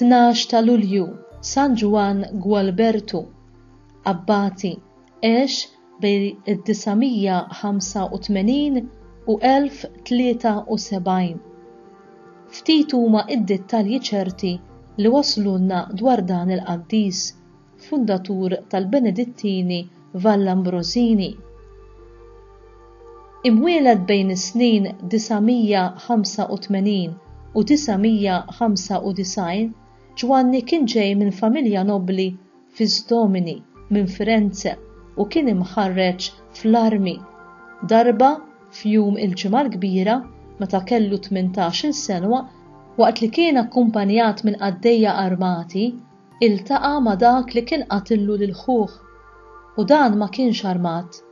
12 ta' Lulju San Ġwann Gwalbertu, Abbati, għex bejn id-985 u 1073. Ftit huma d-dettalji ċerti li waslulna dwar dan il-qaddis, fundatur tal-Benedittini Vallambrożini. Imwieled bejn is-snin 985 u 995, Ġwanni kien ġej minn familja nobbli Fis Domini minn Firenze u kien imħarreġ fl-armi. Darba, f'jum il-Ġimgħa l-Kbira, meta kellu tmintax-il senwa, waqt li kien akkumpanjat minn qaddejja armati, iltaqa' ma' dak li kien qatillu lil ħuh. U dan ma kienx armat,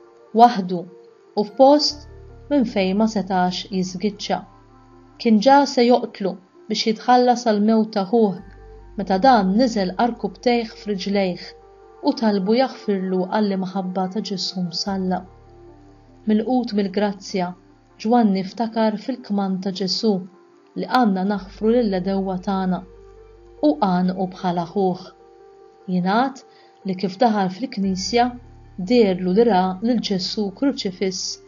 waħdu. u f'post minn fejn ma setax jiżgiċċa. Kien ġa se joqtlu biex jitħallas għall-mewt ta' ħuh meta dan niżel għarkupptejh f'riġlejh u talbu jaħfirlu għall-imħabba ta' Ġesù msallab. Milqut mill-grazzja, Ġwanni ftakar fil-kmand ta' Ġesù li għandna naħfru lill-għedewwa tagħna, u għannqu bħal aħuh. Jingħad li kif daħal fil-knisja, deherlu li ra lil Ġesù kruċifiss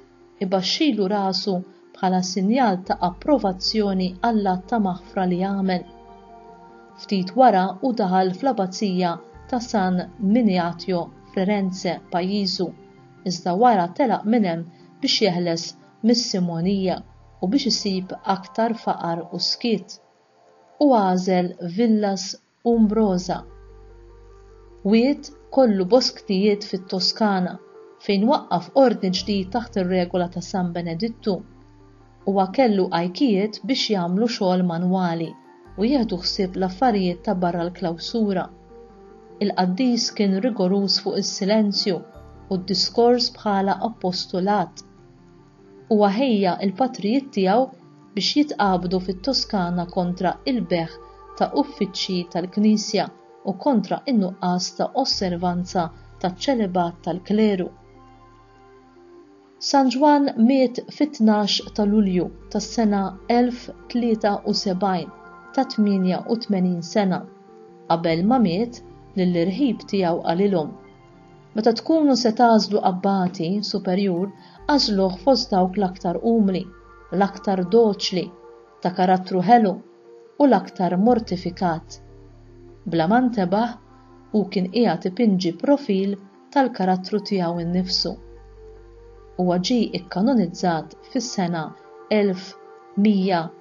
ibaxxilu rasu bħala sinjal ta' approvazzjoni għall-att ta' maħfra li għamel. Ftit wara hu daħal fl-Abazija ta' San Miniatio f'Rerenze, pajjiżu, iżda wara telaq minn hemm biex jeħles mis-simonija u biex isib aktar faqar u skiet, u għażel Villas Umbrosa, wied kollu bosktijiet fit-Toskana, fejn waqqaf ordni ġdid taħt ir-regola ta' San Benedittu. Huwa kellu għajkijiet biex jagħmlu xogħol manwali u jieħdu ħsieb l-affarijiet ta' barra l-klawsura. Il-qaddis kien rigoruż fuq is-silenzju u d-diskors bħala appostulat. Huwa ħejja l-patrijiet tiegħu biex jitqabdu fit-Toskana kontra l-bejgħ ta' uffiċċji tal-Knisja u kontra n-nuqqas ta' osservanza taċ-ċelibat tal-kleru. San Ġwann miet fit-tnax ta' Lulju tas-sena 1073 ta' 88 sena. Qabel ma miet, lill-irħib tiegħu qalilhom, Meta tkunu se tagħżlu abbati superjur, agħżluh fost dawk l-aktar umli, l-aktar doċli, ta' karattru ħelu, u l-aktar mortifikat. Bla ma ntebaħ, hu kien qiegħed ipinġi profil tal-karattru tiegħu nnifsu. Huwa ġie kkanonizzat fis-sena 1100.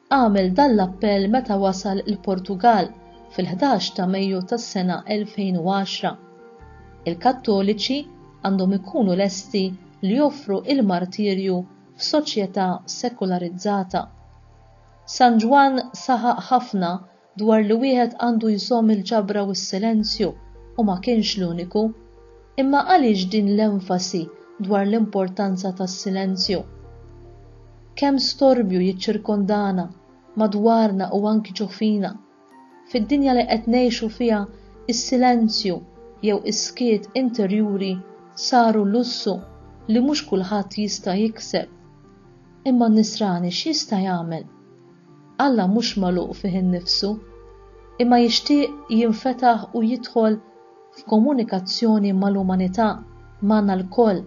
Għamel dan l-appell meta wasal il-Portugall fil-ħdax ta' Mejju tas-sena 2010. Il-Kattoliċi għandhom ikunu lesti li joffru l-martirju f'soċjetà sekularizzata. San Ġwann saħaq ħafna dwar li wieħed għandu jżomm il-ġabra u s-silenzju u ma kienx l-uniku. Imma għaliex din l-enfasi dwar l-importanza tas-silenzju? Kemm storbju jiċċirkondana madwarna u anki ġo fina. Fid-dinja li qed ngħixu fiha is-silenzju jew is-skiet interjuri saru lussu li mhux kulħadd jista' jikseb. Imma n-nisrani x'jista' jagħmel? Alla mhux magħluq fih innifsu, imma jixtieq jinfetaħ u jidħol f'komunikazzjoni mal-umanità, magħna lkoll,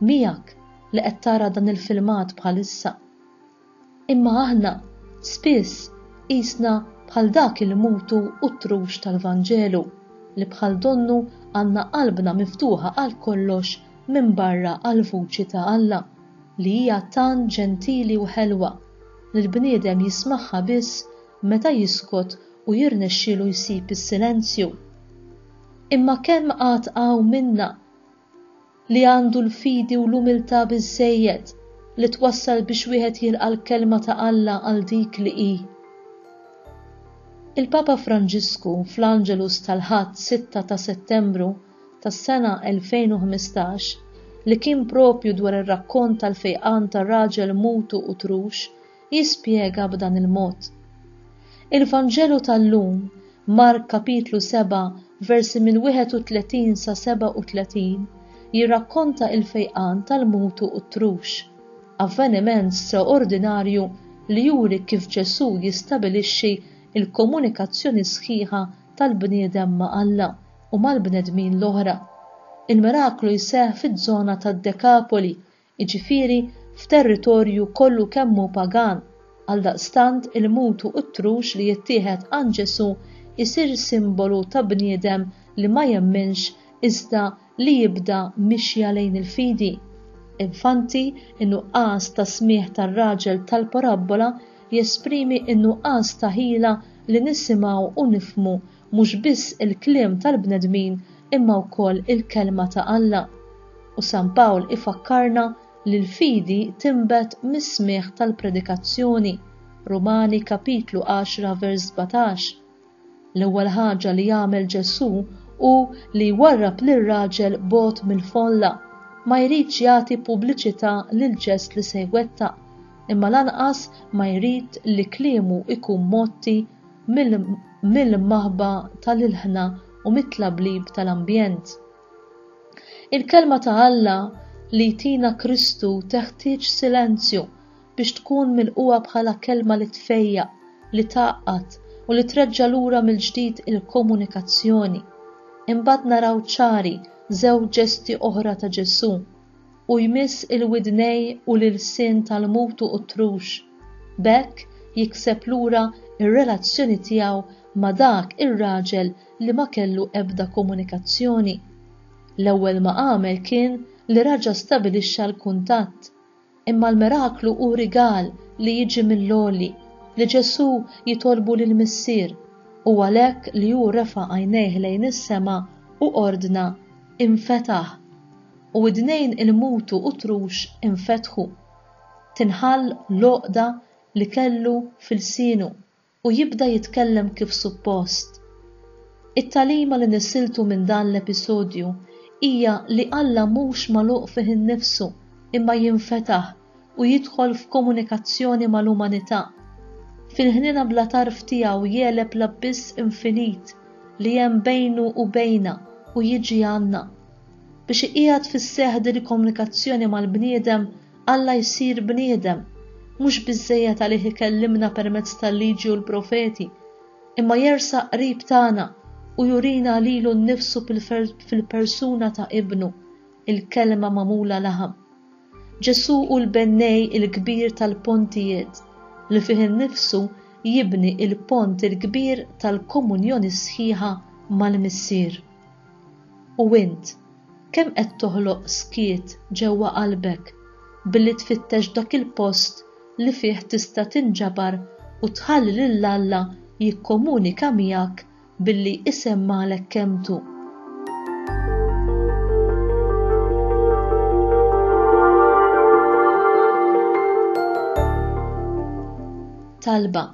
miegħek li qed tara dan il-filmat bħalissa. Imma aħna, spiss, qisna bħal dak il-mutu u t-trux tal-Vanġelu, li bħal donnu għandna qalbna miftuħa għal kollox minbarra għall-vuċi ta' Alla, li hija tant ġentili u ħelwa, li l-bniedem jismagħha biss meta jiskot u jirnexxielu jsib is-silenzju. Imma kemm għad hawn minna li għandu l-fidi u l-umiltà biżżejjed li twassal biex wieħed jilqa' l-Kelma ta' Alla għal dik li hi? Il-Papa Franġisku fl-Angelus tal-Ħadd 6 ta' Settembru tas-sena 2015 li kien proprju dwar ir-rakkont tal-fejqan ta' raġel mutu u trux jispjega b'dan il-mod, Il-Vanġelu tal-lum, Mark kapitlu 7 versi mill-31 sa 37, jirrakkonta il-fejqan tal-mutu u t-trux, avveniment straordinarju li juri kif Ġesù jistabilixxi l-komunikazzjoni sħiħa tal-bniedem ma' Alla u mal-bnedmin l-oħra. Il-miraklu jseħħ fiż-żona tad-Dekapoli, jiġifieri f'territorju kollu kemm hu pagan, għaldaqstant il-mutu u t-trux li jittieħed għand Ġesù jsir simbolu ta' bniedem li ma jemminx iżda li jibda mixja lejn il-fidi. Infanti, in-nuqqas ta' smigħ tar-raġel tal-parabbola jesprimi n-nuqqas ta' ħila li nisimgħu u nifhmu Mhux biss il-kliem tal-bnedmin imma wkoll il-Kelma ta' Alla. U San Pawl ifakkarna li l-fidi tinbet mis-smigħ tal-predikazzjoni, Rumani kapitlu għaxra vers sbatax. L-ewwel ħaġa li jagħmel Ġesù hu li jwarrab lir-raġel bogħod mill-folla, ma jridx jagħti pubbliċità lill-ġest li se jwettaq, imma lanqas ma jrid li kliemu jkun mgħotti mill-immaħba tal-ilħna u mit-tlablib tal-ambjent. Il-Kelma ta' Alla li jtina Kristu teħtieġ silenzju biex tkun milquha bħala kelma li tfejjaq, li tgħaqqad u li treġġa' lura mill-ġdid il-komunikazzjoni. Imbagħad naraw ċari żewġ ġesti oħra ta' Ġesù. u jmiss il-widnejn u l-ilsien tal-mutu u t-trux, b'hekk jikseb lura r-relazzjoni tiegħu ma' dak ir-raġel li ma kellu ebda komunikazzjoni. L-ewwel ma għamel kien li raġa' stabilixxa l-kuntatt. Imma l-miraklu hu rigal li jiġi mill-għoli, li Ġesù jitolbu lill-Missier, u għalhekk li hu refa' għajnejh lejn is-sema u ordna, Infetaħ! u widnejn ilmutu u trux infetħu. Tinħall l-għoqda li kellu f'ilsienu u jibda jitkellem kif suppost. It-tagħlima li nisiltu minn dan l-episodju hija li Alla mhux magħluq fih innifsu imma jinfetaħ u jidħol f'komunikazzjoni mal-umanità. Fil-ħniena bla tarf tiegħu jegħleb l-abbiss infinit li hemm bejnu u bejna u jiġi għandna. Biex iqiegħed fis-seħħ din il-komunikazzjoni mal-bniedem, Alla jsir bniedem. Mhux biżżejjed għalih ikellimna permezz tal-Liġi u l-Profeti, imma jersaq qrib tagħna u jurina lilu nnifsu fil-persuna ta' Ibnu. il-Kelma magħmula laħam. Ġesù hu l-bennej il-kbir tal-pontijiet, li fih innifsu jibni l-pont il-kbir tal-komunjoni sħiħa mal-Missier. U int, kemm qed toħloq skiet ġewwa qalbek billi tfittex dak il-post li fih tista' tinġabar u tħalli lil Alla jikkomunika miegħek Billi isem Malek Kemtu. Talba,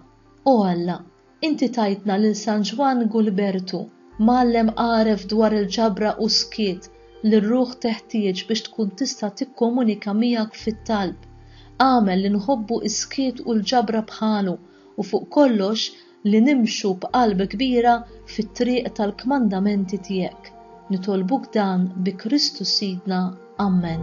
O Alla, inti tajtna lil San Ġwann Gulbertu, mgħallem għaref dwar il-ġabra u skiet li r-ruħ teħtieġ biex tkun tista' tikkomunika miegħek fit-talb. Agħmel li nħobbu s-skiet u l-ġabra bħalu u fuq kollox li nimxu b'qalb kbira fit-triq tal-kmandamenti tiegħek. Nitolbuk dan bi Kristu Sidna. Ammen.